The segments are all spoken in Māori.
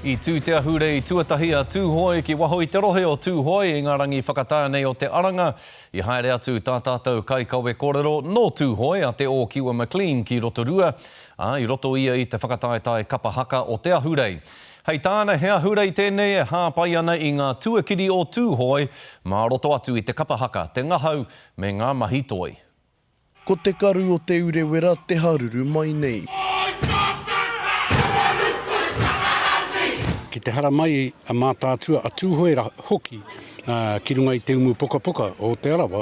I tū te ahurei tuatahi a Tūhoe ki waho i te rohe o Tūhoe i ngā rangi whakatā nei o Te Aranga. I haere atu tā tātou kaikawe kōrero nō Tūhoe a Te Ōkiwa McLean ki Rotorua, ā, i roto ia i te whakataetae kapa haka o te ahurei. Hei tāna, he ahurei tēnei e hāpai ana i ngā tuakiri o Tūhoe mā roto atu i te kapa haka, te ngahau me ngā mahi toi. Ko te karu o Te Urewera te haruru mai nei. Ki te haramai a Mātaatua, a Tūhoera hoki ki runga i te umu pukapuka o Te Arawa,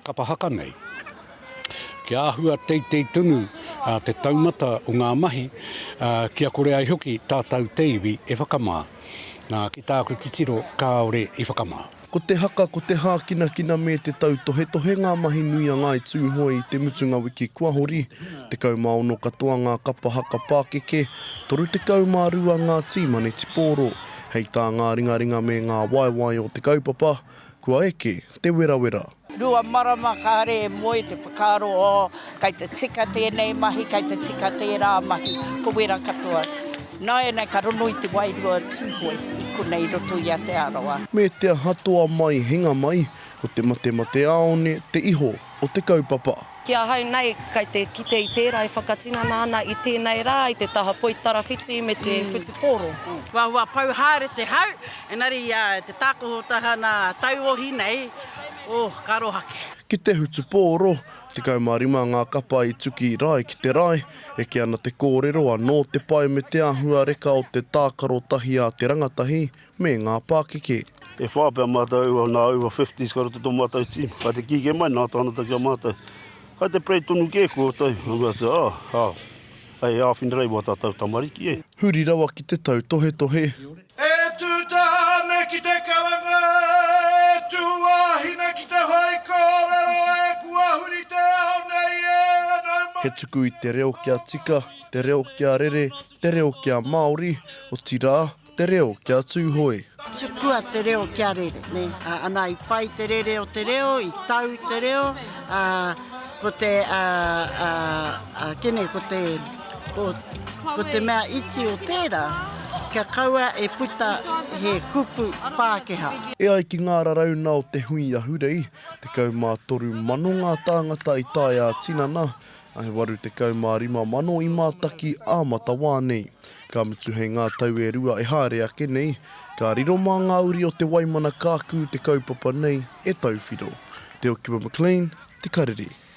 kapa haka nei. Kia āhua teitei tonu te taumata o ngā mahi, kia kore ai hoki tātau te iwi e whakamā. Nā, ki tāku titiro, kāore i whakamā. Ko te haka, ko te hākinakina me te tautohetohe ngā mahi nui a Ngāi Tūhoe i te mutunga wiki kua hori, 16 katoa ngā kapa haka pākeke, 32 ngā tī manetipōro. Hei tā ngā ringaringa me ngā waewae o te kaupapa, kua eke te werawera. Rua marama kāre e moe te whakaaro o kei te tika tēnei mahi, kei te tika tērā mahi, ko wera katoa. Nāianei ka rongo i te wairua o Tūhoe i konei i roto i a Te Arawa. Me te aha toa mai hinga mai, ko te matemateāone te iho o te kaupapa. Ki ahau nei, kai te kite i tērā e whakatinana ana i tēnei rā, i te taha poi tarawhiti me te whutupōro. Huahua pau haere te hau, engari i te tākoho tahana tauohi nei, oh, ka aroha kē. Ki te hutupōro, 15 ngā kapa i tuki rae ki te rae, eke ana te kōrero anō te pae me te āhua reka o te tākaro tahi a te rangatahi, me ngā pākeke. E whā pea mātou, nā aua fifties ka roto tō mātou tīma. Kai te kīkē mai, nā tāna taki a mātou. Kai te prei tonu kē koutou, nō reira te, ah, ah, hei āwhina reiwa tātou tamariki, eh. Huri rawa ki te tautohetohe. E tū tāne ki te karanga, e tū wāhine ki te whai kōrero e kua huri te ao nei e nau mai. He tuku i te reo kia tika, te reo kia rere, te reo kia Māori, otirā, Te reo kia Tūhoe. Tukua te reo kia rere, nē. Ana i pai te rere o te reo, i tau te reo, ā, ko te, ā, ā, ā, kene, ko te, ko, ko te mea iti o tērā, kia kaua e puta he kupu Pākehā. E ai ki ngā raraunga o te hui ahurei, 13 mano ngā tāngata i tae ā-tinana, He 85 mano i mātaki ā matawā nei. Ka mutu hei ngā tau e rua e haere ake nei, ka riro mā ngā uri o Te Waimana kākū te kaupapa nei e tauwhiro. Te Okiwa McLean, Te Karere.